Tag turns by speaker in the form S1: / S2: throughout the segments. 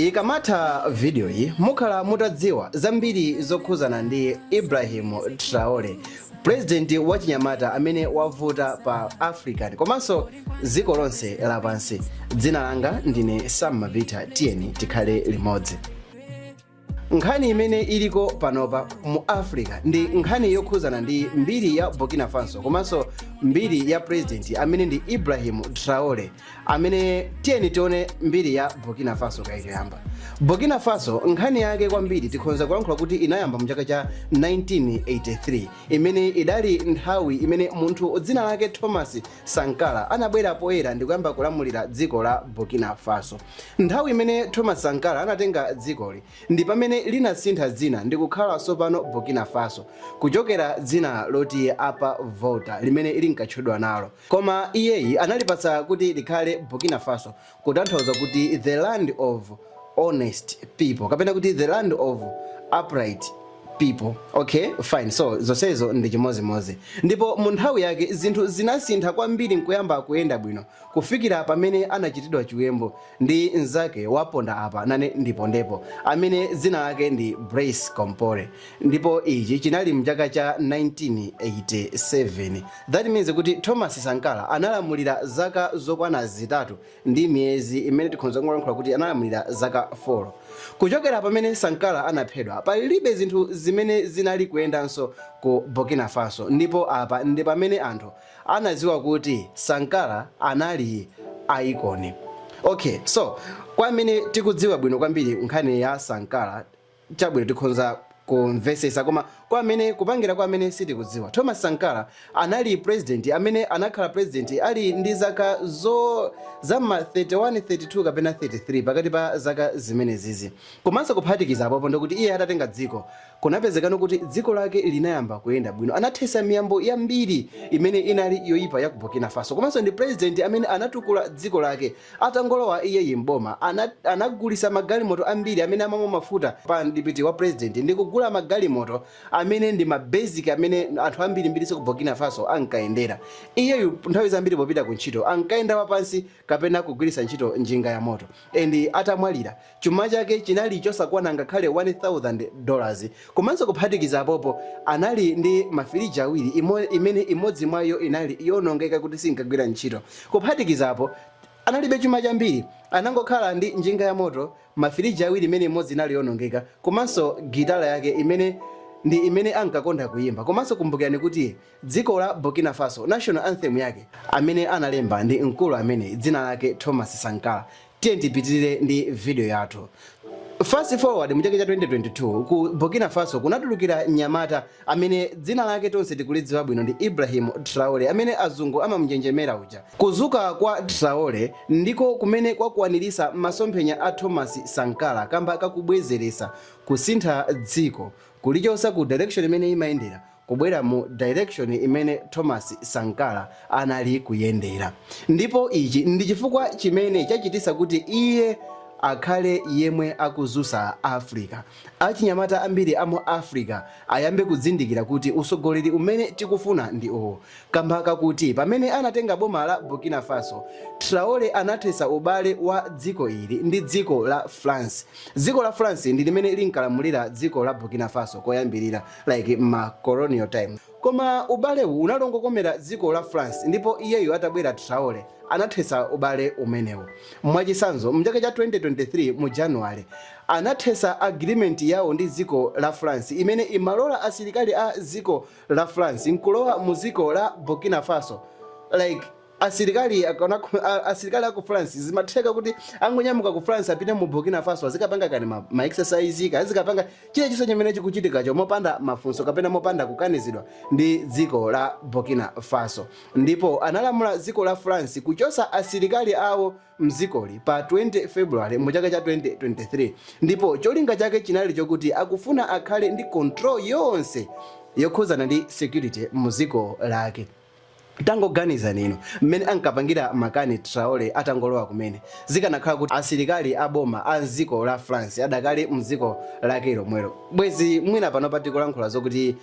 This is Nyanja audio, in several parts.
S1: Ikamatha video yi mukhala mutadziwa zambiri zokhuzana ndi Ibrahim Traore president wachinyamata amene wavuta pa African komanso dziko lonse lapansi. Dzina langa ndine Sam Mabitha tiyeni tikhale limodzi. Nkhani imene iliko panopa mu Africa ndi nkhani yokhuzana ndi mbiri ya Burkina Faso komanso mbiri ya president amene ndi Ibrahim Traore amene tiyeni tione mbiri ya Burkina Faso kaye choyamba. Burkina Faso nkhani yake kwambiri tikhonza kulankhula kuti inayamba mu chaka cha 1983 imene idali nthawi imene munthu dzina lake Thomas Sankara anabwera poyera ndikuyamba kulamulira dziko la Burkina Faso. Nthawi imene Thomas Sankara anatenga dzikoli ndi pamene linasintha dzina ndikukhala sopano Burkina Faso kuchokera dzina loti Upper Volta limene linkatchudwa nalo. Koma iyeyi analipatsa kuti likhale Burkina Faso kutanthauza kuti the land of honest people kapena kuti the land of upright people okay fine so zonsezo ndi chimodzimodzi ndipo mu nthawi yake zinthu zinasintha kwambiri nkuyamba kuyenda bwino kufikira pamene anachitidwa chiwembu ndi mnzake waponda apa nane ndipondepo amene dzina lake ndi Blaise Compaore ndipo ichi chinali mchaka cha 1987 that means kuti Thomas Sankara analamulira zaka zokwana zitatu ndi miyezi imene tikhonza kungolankhula kuti analamulira zaka 4 kuchokera pamene Sankara anaphedwa palibe zinthu zimene zinali kuyendanso ku Burkina Faso ndipo apa ndi pamene anthu anaziwa kuti Sankara anali icon okay so kwa amene tikudziwa bwino kwambiri nkhani ya Sankara chabwino tikhonza kumvesesa koma kwa amene kupangira kwa amene sitikudziwa thomas sankara anali president amene anakhala president ali ndi zaka za ma 31 32 kapena 33 pakati pa zaka zimenezizi komanso kuphatikiza apopo ndikuti iye atatenga dziko kunapezekano kuti dziko lake linayamba kuyenda bwino anathesa miyambo yambiri imene inali yoyipa ya ku burkina faso komanso ndi president amene anatukula dziko lake Atangolowa iyeyi m'boma, anagulisa magalimoto ambiri amene amamwa mafuta pa mdipiti wa president ndikugula magalimoto amene ndi ma basic amene anthu ambirimbiriso ku Burkina Faso ankayendera. Iyeyu nthawi zambiri popita ku ntchito ankayenda wapansi kapena kugwirisa ntchito njinga yamoto. And atamwalira. Chuma chake chinali chosakwana ngakhale 1,000 dollars. Komanso kuphatikiza apopo, anali ndi ma firiji awiri, imene imodzi mwa iyo inali yoonongeka kuti sinkagwira ntchito. Kuphatikiza apo, analibe chuma chambiri. Anangokhala ndi njinga yamoto, ma firiji awiri imene imodzi inali yoonongeka, komanso gitala yake imene ndi imene ankakonda kuyimba. Komanso kumbukirani kuti dziko la Burkina Faso, national anthem yake, amene analemba ndi mkulu amene dzina lake Thomas Sankara. Tiyeni tipitirire ndi video yathu. Fast forward mu chaka cha 2022 ku Burkina Faso kunatulukira mnyamata amene dzina lake tonse tikulidziwa bwino ndi Ibrahim Traore amene azungu amamunjenjemera uja. Kudzuka kwa Traore ndiko kumene kwakwaniritsa masomphenya a Thomas Sankara kamba kakubwezeretsa, kusintha dziko, kulichotsa ku direction imene imayendera, kubwera mu direction imene Thomas Sankara anali kuyendera. Ndipo ichi ndi chifukwa chimene chachititsa kuti iye akhale yemwe akudzutsa Africa. Achinyamata ambiri amu Africa ayambe kuzindikira kuti utsogoleri umene tikufuna ndi uwu. Kamba kakuti pamene anatenga boma la Burkina Faso, Traore anathetsa ubale wa dziko ili ndi dziko la France. Dziko la France ndi limene linkalamulira dziko la Burkina Faso koyambirira. like mma colonial time koma ubalewu unali ongokomera dziko la France ndipo iyeyu atabwera Traore anathetsa ubale umenewu mwachitsanzo mchaka cha 2023 mu January anathetsa agreement yawo ndi dziko la France imene imalola asilikali a dziko la France nkulowa mu dziko la Burkina Faso like Asilikali a ku France, zimatheka kuti angonyamuka ku France apite mu Burkina Faso azikapanga kaya ndi ma exercise, kaya azikapanga chilichonse chimene chikuchitikacho mopanda mafunso kapena mopanda kukanizidwa ndi dziko la Burkina Faso. Ndipo analamula dziko la France kuchotsa asilikali awo m'dzikoli pa 20 February mu chaka cha 2023 ndipo cholinga chake chinali chokuti akufuna akhale ndi control yonse yokhudzana ndi security mu dziko lake. Tangoganizani inu mmene ankapangira makani Traore atangolowa kumene zikanakhala kuti asilikali a boma a mziko la France adakali mziko lake lomwelo bwezi mwina panopa tikulankhula zokuti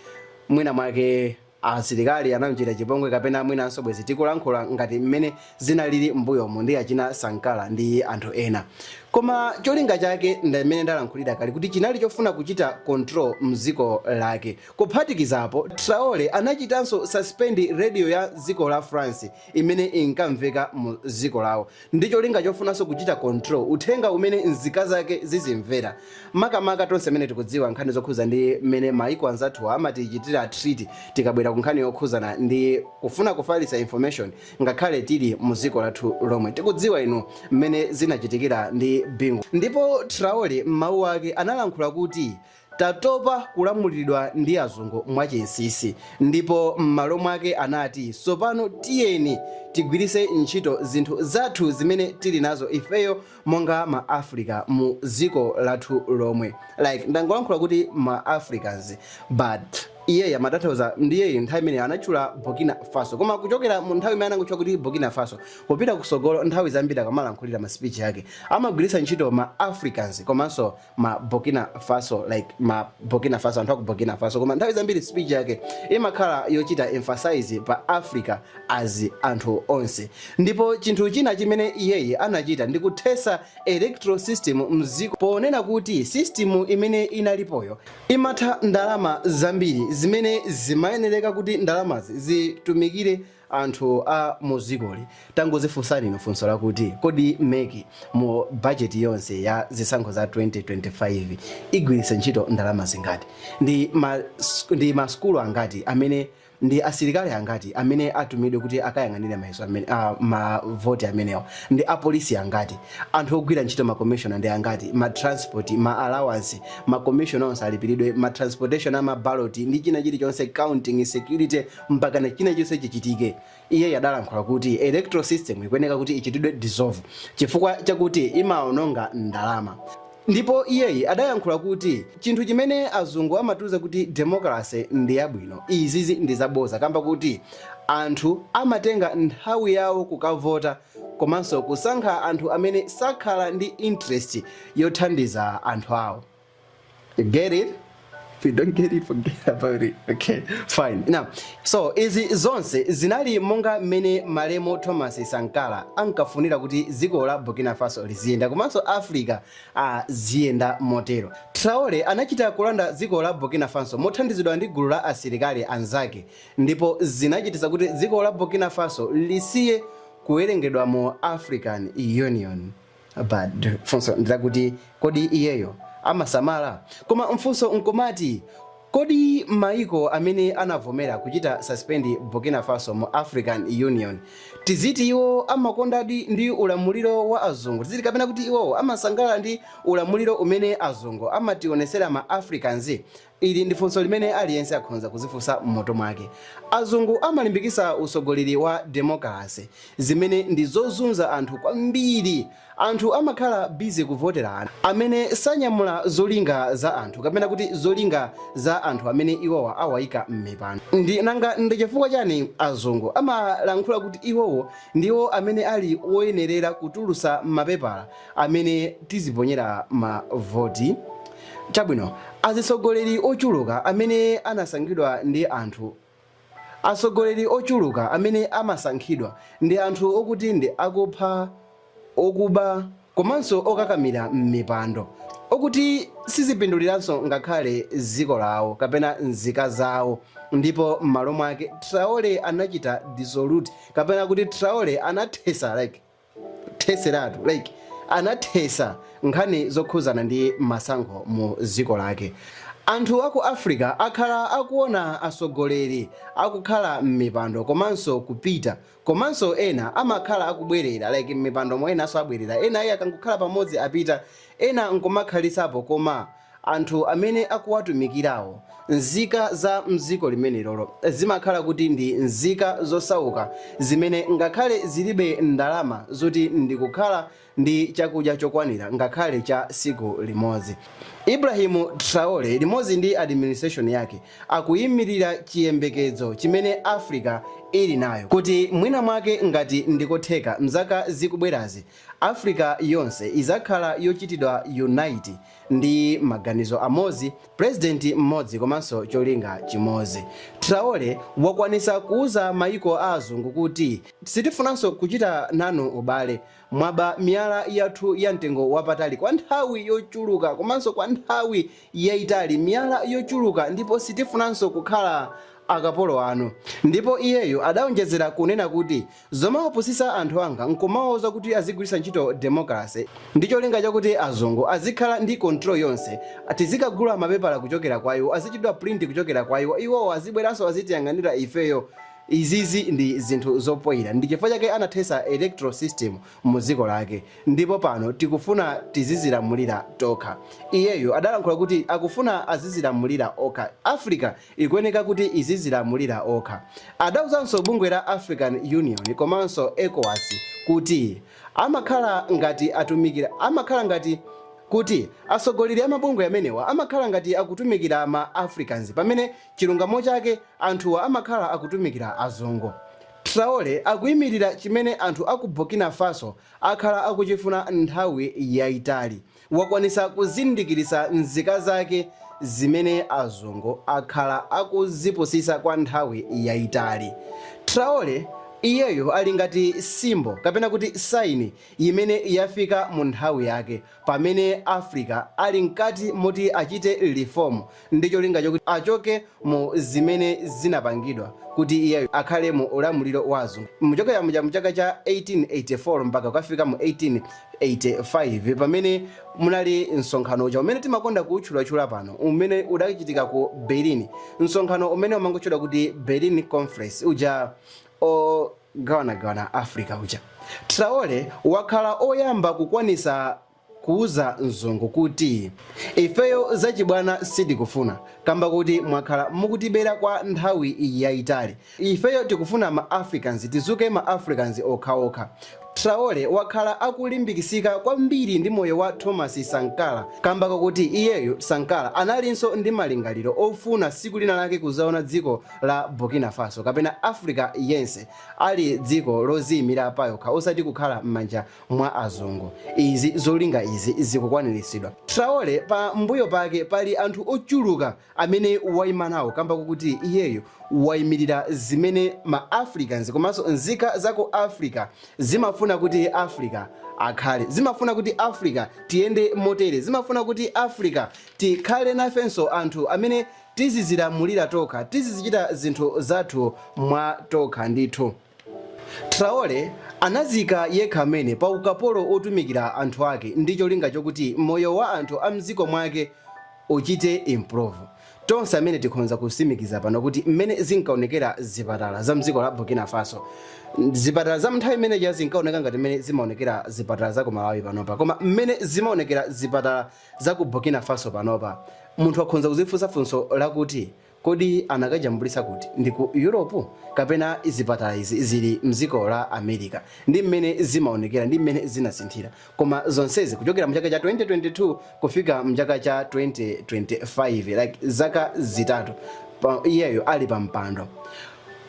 S1: mwina mwake asilikali anamchita chipongwe kapena mwinanso bwezi tikulankhula ngati mmene zinalili mbuyomu ndi achina Sankara ndi anthu ena koma cholinga chake ndi mmene ndalankhulira kale kuti chinali chofuna kuchita control mziko lake Kuphatikizapo, Traore anachitanso suspend radio ya dziko la France imene inkamveka mu dziko lawo ndi cholinga chofunanso kuchita control uthenga umene nzika zake zizimvera. Makamaka tonse amene tikudziwa nkhani zokhuza ndi mmene maiko anzathuwa amatichitira treat tikabwera ku nkhani yokhuzana ndi kufuna kufalitsa information ngakhale tili mu dziko lathu lomwe. Tikudziwa inu mmene zinachitikira ndi Bingu. Ndipo Traore mmawu ake analankhula kuti. Tatopa kulamuliridwa ndi azungu mwachinsinsi ndipo mmalo mwake anati sopano tiyeni tigwirise ntchito zinthu zathu zimene tili nazo ifeyo monga ma Africans mu ziko lathu lomwe like ndangolankhula kuti ma Africans but iyeyi amatanthauza ndiye nthawi imene anatchula Burkina Faso koma kuchokera mu nthawi imene anangotchula kuti Burkina Faso kupita kusogolo nthawi zambiri akamalankhulira ma speech ake amagwiritsa ntchito ma Africans komanso ma Burkina Faso like ma Burkina Faso anthu aku Burkina Faso koma nthawi zambiri speech yake imakhala yochita emphasize pa Africa as anthu onse ndipo chinthu china chimene iyeyi anachita ndi kuthesa electoral system mziko ponena kuti system imene inalipoyo imatha ndalama zambiri zimene zimayenereka kuti ndalamazi zitumikire Anthu a mu dzikoli tangozifunsani inu funso lakuti, kodi mec mu budget yonse ya zisankho za 2025 igwiritsa ntchito ndalama zingati? Ndi ma sukulu angati amene ndi asilikali angati amene atumidwe kuti akayang'anire mayeso amene a ma voti amenewa? Ndi apolisi angati? Anthu ogwira ntchito ma commissioner ndi angati? Ma transport, ma allowance, ma commissioner onse alipiridwe ma transportation a ma ballot ndi china chilichonse counting, security, mpakana china chonse chichitike. Iyeyu adalankhula kuti electoral system ikuyeneka kuti ichitidwe dissolve chifukwa chakuti imaononga ndalama. Ndipo iyeyi adayankhula kuti chinthu chimene azungu amatiuza kuti democracy ndi yabwino, izizi ndi zaboza kamba kuti anthu amatenga nthawi yawo kukavota komanso kusankha anthu amene sakhala ndi interest yothandiza anthu awo. You get it? If you don't get it, forget about it. Okay, fine. Now, so izi zonse zinali monga mmene malemu Thomas Sankara ankafunira kuti dziko la Burkina Faso liziyenda komanso Africa ah, ziyenda motero. Traore anachita kulanda dziko la Burkina Faso mothandizidwa ndi gulu la asilikali anzake ndipo zinachititsa kuti dziko la Burkina Faso lisiye kuwerengedwa mu African Union. but funso ndilakuti kodi iyeyo amasamala koma mfunso nkumati kodi maiko amene anavomera kuchita suspend burkina faso mu african union tiziti iwo amakondadi ndi ulamuliro wa azungu tiziti kapena kuti iwowo amasangalala ndi ulamuliro umene azungu amationesera ma africans Ili ndi funso limene aliyense akhonza kuzifunsa m'mutu mwake. Azungu amalimbikitsa utsogoleri wa democracy, zimene ndi zozunza anthu kwambiri. Anthu amakhala busy kuvotera anthu amene sanyamula zolinga za anthu, kapena kuti zolinga za anthu amene iwowa awaika m'mipando. Ndi nanga ndi chifukwa chani azungu amalankhula kuti iwowo ndiwo amene ali woyenerera kutulutsa mapepala amene tiziponyera ma voti? Chabwino, azisogoleri ochuluka amene anasankhidwa ndi anthu, asogoleri ochuluka amene amasankhidwa ndi anthu okuti ndi akupha, okuba komanso okakamira mmipando, okuti sizipinduliranso ngakhale dziko lawo kapena nzika zawo ndipo mmalo mwake Traore anachita dissolute kapena kuti Traore anathesa like. kutheseratu like anathesa nkhani zokhuzana ndi masankho mu dziko lake. Anthu aku Africa akhala akuona asogoleri akukhala mmipando komanso kupita komanso ena amakhala akubwerera like mmipandomo enanso abwerera ena ayi akangokhala pamodzi apita ena nkumakhalisapo koma anthu amene akuwatumikirawo, nzika za m'dziko limenelolo, zimakhala kuti ndi nzika zosauka zimene ngakhale zilibe ndalama zoti ndikukhala ndi chakudya chokwanira ngakhale cha siku limodzi. Ibrahim Traore limodzi ndi administration yake akuimirira chiyembekedzo chimene Africa ili nayo kuti mwina mwake ngati ndi kotheka mzaka zikubwerazi, Africa yonse izakhala yochitidwa unite, Ndi maganizo amodzi, president mmodzi komanso cholinga chimodzi. Traore wakwanisa kuuza mayiko a azungu kuti sitifunanso kuchita nanu ubale. Mwaba miyala yathu ya mtengo wapatali kwa nthawi yochuluka komanso kwa nthawi yaitali, miyala yochuluka ndipo sitifunanso kukhala akapolo anu. Ndipo iyeyo adaonjezera kunena kuti Zomawapusisa anthu anga nkumawauza kuti azigwiritsa ntchito democracy ndi cholinga chakuti azungu azikhala ndi control yonse, tizikagula mapepala kuchokera kwa iwo, azichitidwa print kuchokera kwa iwo, iwowo azibweranso azitiyang'anira ifeyo, izizi ndi zinthu zopoira ndi chifukwa chake anathesa electoral system mu dziko lake ndipo pano tikufuna tizizilamulira tokha. Iyeyo adalankhula kuti akufuna azizilamulira okha Africa. ikuyeneka kuti izizilamulira okha. Adauzanso bungwe la African Union komanso Ecowas kuti amakhala ngati atumikira amakhala ngati kuti asogoleri a mabungwe amenewa amakhala ngati akutumikira ma Africans pamene chilungamo chake anthuwa amakhala akutumikira azungu. Traore akuimirira chimene anthu a ku Burkina Faso akhala akuchifuna nthawi yaitali. wakwanisa kuzindikiritsa nzika zake zimene azungu akhala akuzipusisa kwa nthawi yaitali. Traore, iyeyo ali ngati symbol kapena kuti sign imene yafika mu nthawi yake pamene Africa ali mkati moti achite reform ndi cholinga chokuti achoke mu zimene zinapangidwa kuti iyeyo akhale mu ulamuliro wa azungu muchokera muja muchaka cha 1884 mpaka kukafika mu 1885 pamene munali msonkhano uja umene timakonda kuutchulatchula pano umene udachitika ku berlin msonkhano umene umangotchedwa kuti berlin conference uja ogawanagawana africa uja traore wakhala oyamba kukwanisa kuuza mzungu kuti ifeyo zachibwana sitikufuna kamba kuti mwakhala mukutibera kwa nthawi yayitali. Ifeyo tikufuna ma Africans tizuke ma Africans okhaokha. Traore wakhala akulimbikisika kwambiri ndi moyo wa Thomas Sankara kamba kakuti iyeyo Sankara analinso ndi malingaliro ofuna siku lina lake kuzaona dziko la Burkina Faso kapena Africa yense ali dziko loziyimira payokha osati kukhala m'manja mwa azungu. Izi zolinga izi zikukwaniritsidwa. Traore pa mbuyo pake pali anthu ochuluka amene waima nawo kamba kokuti iyeyo waimirira zimene ma Africans komanso nzika za ku Africa zimafuna kuti Africa akhale. Zimafuna kuti Africa tiyende motere. Zimafuna kuti Africa tikhale nafenso anthu amene tizizilamulira tokha, tizizichita zinthu zathu mwa tokha ndithu. Traore anazika yekha amene pa ukapolo otumikira anthu ake ndi cholinga chokuti moyo wa anthu a mdziko mwake uchite improve. Tonse amene tikhonza kusimikiza pano kuti mmene zinkaonekera zipatala za mdziko la Burkina Faso, zipatala za mnthawi imene ija zinkaoneka ngati mmene zimaonekera zipatala za ku Malawi panopa. Koma mmene zimaonekera zipatala za ku Burkina Faso panopa, munthu akhonza kuzifunsa funso lakuti, Kodi anakajambulitsa kuti? Ndi ku Europe? Kapena zipatala izi zili mdziko la America? Ndi mmene zimaonekera ndi mmene zinasinthira. Koma zonsezi kuchokera mchaka cha 2022 kufika mchaka cha 2025 like zaka zitatu iyeyo ali pa mpando.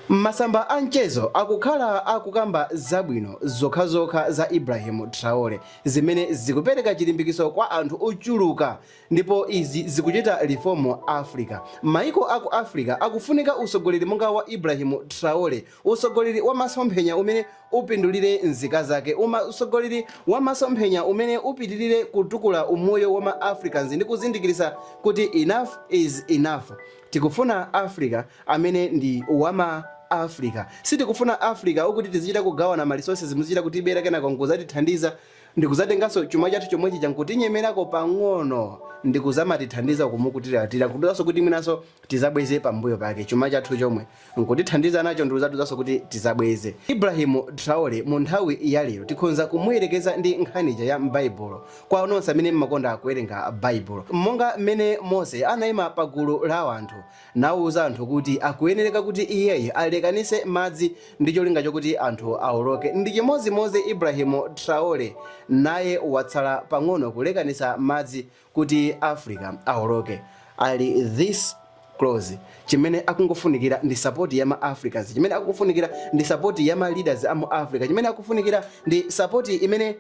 S1: Masamba a mchezo akukhala akukamba zabwino zokhazokha za Ibrahim Traore zimene zikupereka chilimbikiso kwa anthu ochuluka Ndipo izi zikuchita reform Africa. Maiko aku Africa akufunika utsogoleri monga wa Ibrahim Traore, utsogoleri wa masomphenya umene upindulire nzika zake, utsogoleri wa masomphenya umene upitirire kutukula umoyo wa ma Africans ndi kuzindikiritsa kuti enough is enough. Tikufuna Africa amene ndi wa ma Africa. Sitikufuna Africa okuti tizichita kugawana ma resources muzichita kutibera kenako nkuzatithandiza. ndikudzatenganso chuma chathu chomwecho nkutinyemerako pang'ono ndikuzamatithandiza kumatiuzanso kuti mwinanso tizabweze pambuyo pake chuma chathu chomwe nkutithandiza nacho ndikuzatiuzanso kuti tizabweze ibrahimu traore mu nthawi ya lero tikhonza kumuyerekeza ndi nkhani ija ya m'baibulo kwa onse amene mmakonda kuwerenga baibulo monga mmene mose anayima pa gulu la anthu nauza anthu kuti akuyenereka kuti iyeyu alekanitse madzi ndi cholinga chokuti anthu aoloke. Ndi chimodzimodzi Ibrahim Traore naye watsala pang'ono kulekanitsa madzi kuti Africa aoloke. Ali this close. Chimene akungofunikira ndi support ya ma Africans. Chimene akungofunikira ndi support ya ma leaders a mu Africa. Chimene akufunikira ndi support imene.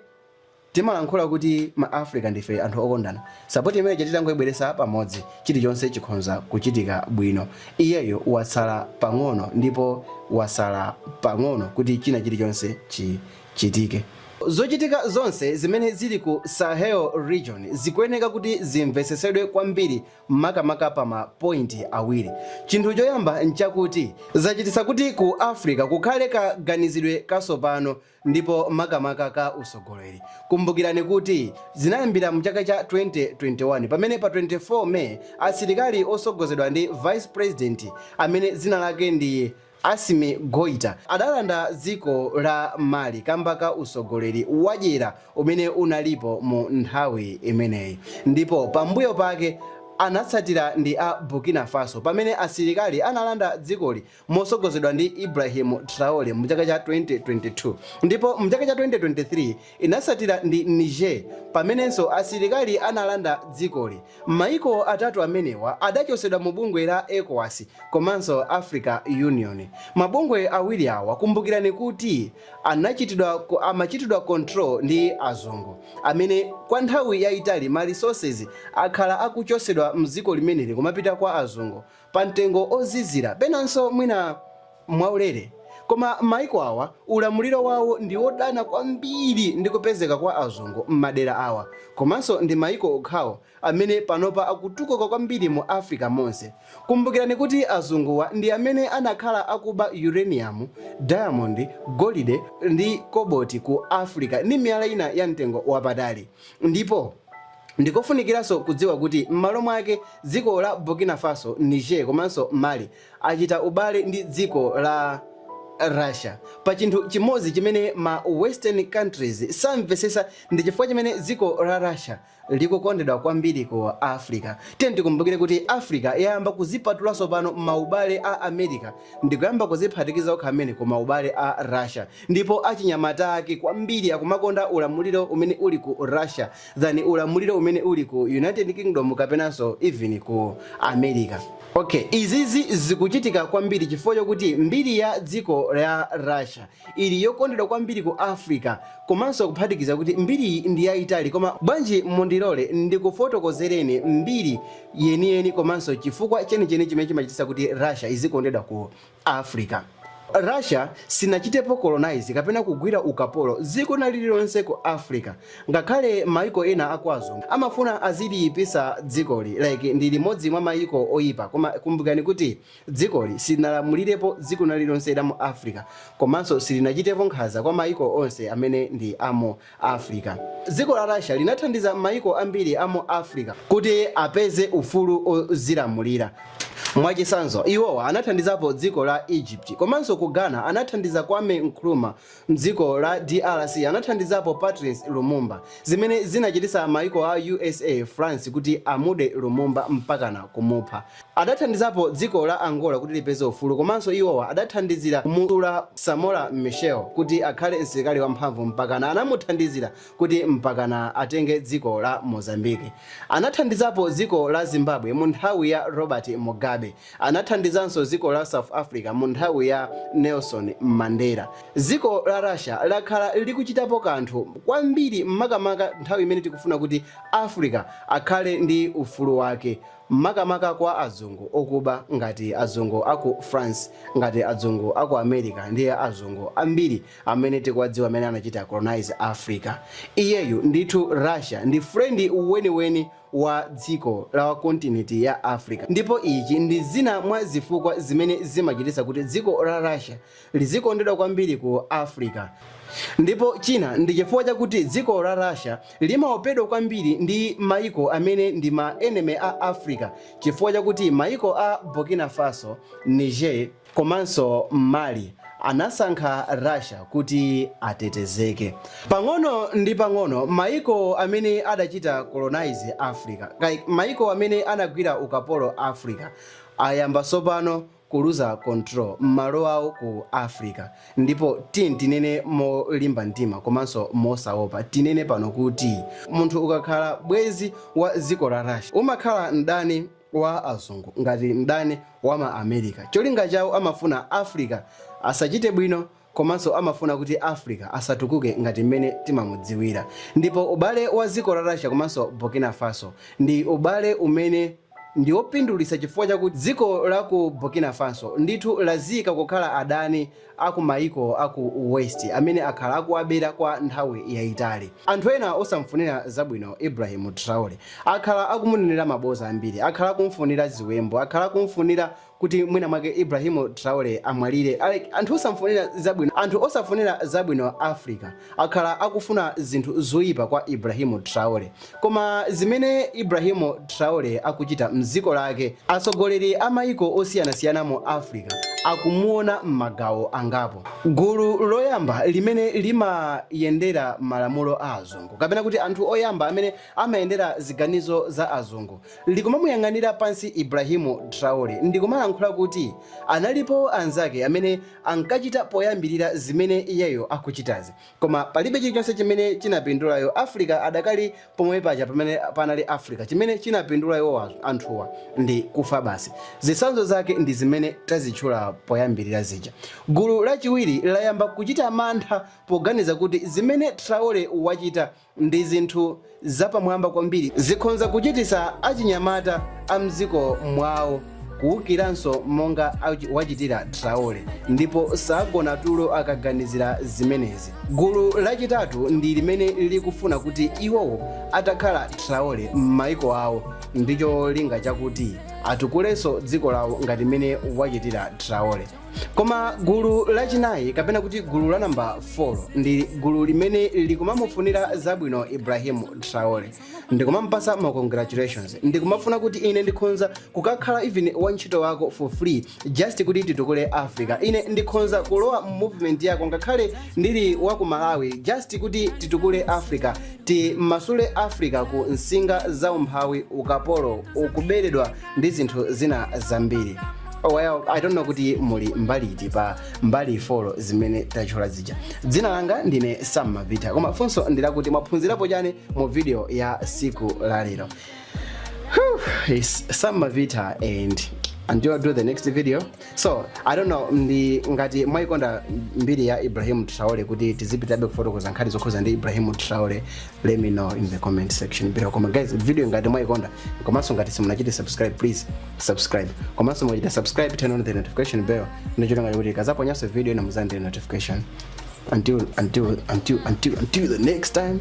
S1: Timalankhula kuti ma Africa ndife anthu okondana, support imene ija titangoibweresa pamodzi chilichonse chikhonza kuchitika bwino, iyeyo watsala pang'ono ndipo wasala pang'ono kuti china chilichonse chichitike. Zochitika zonse zimene zili ku Sahel region zikuyeneka kuti zimvetsetsedwe kwambiri makamaka pa ma point awiri, chinthu choyamba nchakuti zachititsa kuti ku Africa kukhale kaganizidwe kasopano, ndipo makamaka ka utsogoleri. Kumbukirani kuti zinayambira mu chaka cha 2021 pamene pa 24 May asilikali otsogozedwa ndi Vice President amene dzina lake ndi Assimi Goita adalanda dziko la Mali kamba ka utsogoleri wadyera umene unalipo mu nthawi imeneyi ndipo pambuyo pake anatsatira ndi a Burkina Faso pamene asilikali analanda dzikoli mosogozedwa ndi Ibrahim Traore mu chaka cha 2022 ndipo mu chaka cha 2023 inasatira ndi Niger pamenenso asilikali analanda dzikoli. Maiko atatu amenewa adachosedwa mu bungwe la Ecowas komanso Africa Union. Mabungwe awiri awa kumbukirani kuti amachitidwa control ndi azungu amene kwa nthawi yaitali ma resources akhala akuchosedwa mziko limeneli kumapita kwa azungu pa mtengo ozizira penanso mwina mwaulere koma maiko awa ulamuliro wawo ndi odana kwambiri ndi kupezeka kwa azungu mmadera awa komanso ndi maiko okhawo amene panopa akutukuka kwambiri mu africa monse kumbukirani kuti azunguwa ndi amene anakhala akuba uranium diamond golide ndi koboti ku africa ndi miyala ina ya mtengo wapatali ndipo Ndikofunikiranso kudziwa kuti m'malo mwake dziko la Burkina Faso, Niger komanso Mali achita ubale ndi dziko la Russia pa chinthu chimodzi chimene ma western countries samvetsetsa ndi chifukwa chimene dziko la Russia likukondedwa kwambiri ku Africa. Tiyeni tikumbukire kuti Africa yayamba kudzipatula tsopano maubale a America ndikuyamba kudziphatikiza okha mene ku maubale a Russia ndipo achinyamata ake kwambiri akumakonda ulamuliro umene uli ku Russia. than ulamuliro umene uli ku United Kingdom kapenanso even ku America. Ok, izizi zikuchitika kwambiri chifukwa chokuti mbiri ya dziko la Russia ili yokondedwa kwambiri ku Africa komanso kuphatikiza kuti mbiriyi ndi yayitali koma bwanji mundilole ndikufotokozereni mbiri yeniyeni komanso chifukwa chenicheni chimene chimachititsa kuti Russia izikondedwa ku Africa. Russia sinachitepo colonize kapena kugwira ukapolo dziko lina lililonse ku Africa ngakhale maiko ena akwazungu amafuna aziliyipisa dzikoli like ndi limodzi mwa maiko oyipa koma kumbukani kuti dzikoli silinalamulirepo dziko lina lililonse lamu Africa komanso silinachitepo nkhanza kwa maiko onse amene ndi amu Africa. Dziko la Russia linathandiza mayiko ambiri a mu Africa kuti apeze ufulu wodzilamulira. Mwachitsanzo, iwowa anathandizapo dziko la Egypt komanso ku Ghana anathandiza Kwame Nkrumah. M'dziko la drc anathandizapo Patrice Lumumba, zimene zinachititsa mayiko a usa, France kuti amude Lumumba mpakana kumupha. Adathandizapo dziko la Angola kuti lipeze ufulu komanso iwowa adathandizira kumuumba Samora Machel kuti akhale msilikali wamphamvu mpakana anamuthandizira kuti mpakana atenge dziko la Mozambique. Anathandizapo dziko la Zimbabwe munthawi ya Robert Mugabe. Anathandizanso dziko la South Africa munthawi ya Nelson Mandela. Dziko la Russia lakhala likuchitapo kanthu kwambiri makamaka nthawi imene tikufuna kuti Africa akhale ndi ufulu wake. makamaka kwa azungu okuba ngati azungu aku France, ngati azungu aku America ndiye azungu ambiri amene tikuwadziwa amene anachita colonize Africa. Iyeyu ndithu Russia ndi friend weniweni wa dziko la wa kontinenti ya Africa ndipo ichi ndi zina mwa zifukwa zimene zimachititsa kuti dziko la Russia lizikondedwa kwambiri ku Africa. Ndipo china ndi chifukwa chakuti dziko la Russia limaopedwa kwambiri ndi maiko amene ndi ma enemy a Africa chifukwa chakuti maiko a Burkina Faso, Niger komanso Mali anasankha Russia kuti atetezeke. Pang'ono ndi pang'ono maiko amene adachita colonize Africa, maiko amene anagwira ukapolo Africa, ayamba tsopano kuluza control malo awo ku africa ndipo tinene molimba mtima komanso mosaopa tinene pano kuti munthu ukakhala bwenzi wa dziko la russia umakhala mdani wa azungu ngati mdani wa ma america cholinga chawo amafuna africa asachite bwino komanso amafuna kuti Africa asatukuke ngati mmene timamudziwira ndipo ubale wa dziko la Russia komanso Burkina Faso ndi ubale umene ndi opindulitsa chifukwa chakuti dziko la ku Burkina Faso ndithu ladziika kukhala adani a ku maiko a ku West amene akhala akuwabera kwa nthawi yaitali. Anthu ena osamfunira zabwino Ibrahim Traore akhala akumunenera maboza ambiri, akhala akumfunira ziwembu, akhala akumfunira kuti mwina mwake Ibrahim Traore amwalire anthu osafunira zabwino Africa akhala akufuna zinthu zoyipa kwa Ibrahim Traore koma zimene Ibrahim Traore akuchita mziko lake atsogoleri a mayiko osiyanasiyana mu Africa akumuona m'magawo angapo gulu loyamba limene limayendera malamulo a azungu kapena kuti anthu oyamba amene amayendera ziganizo za azungu likumamuyang'anira pansi Ibrahim Traore ndikumalankhula kuti analipo anzake amene ankachita poyambirira zimene iyeyo akuchitazi koma palibe chilichonse chimene anapindula iwo Africa adakali pomwe paja pamene panali Africa chimene anapindula iwo anthuwa ndi kufa basi zitsanzo zake ndi zimene tazitchula poyambirira zija gulu lachiwiri layamba kuchita mantha poganiza kuti zimene Traore wachita ndi zinthu zapamwamba kwambiri zikhonza kuchititsa achinyamata a mdziko mwawo kuwukiranso monga wachitira Traore ndipo sagona tulo akaganizira zimenezi. Gulu lachitatu ndi limene likufuna kuti iwowo atakhala Traore m'maiko awo ndi cholinga chakuti atukulenso dziko lawo ngati mmene wachitira Traore. koma gulu lachinayi kapena kuti gulu la namba 4 ndi gulu limene likumamufunira zabwino ibrahim traore ndikumampatsa ma congratulations ndikumafuna kuti ine ndikhonza kukakhala even wantchito wako for free just kuti titukule africa ine ndikhonza kulowa mu movement yako ngakhale ndili wa ku malawi just kuti titukule africa timasule africa ku nsinga za umphawi ukapolo wokuberedwa ndi zinthu zina zambiri well, i don't know kuti muli mbali iti pa mbali folo zimene tatchula zija dzina langa ndine sam mavita koma funso ndilakuti mwaphunzirapo chani mu video ya tsiku la lero it's sam mavita and until i do the next video so i don't know ndi ngati mwayikonda mbiri ya ibrahim traore kuti tizipitirabe kufotokoza nkhani zokhudzana ndi ibrahim traore let me know in the comment section below koma guys video ngati mwayikonda komanso ngati simunachite subscribe please subscribe komanso mukachita subscribe turn on the notification bell ndi cholinga chakuti ndikazaponyanso video ina muzandire notification until the next time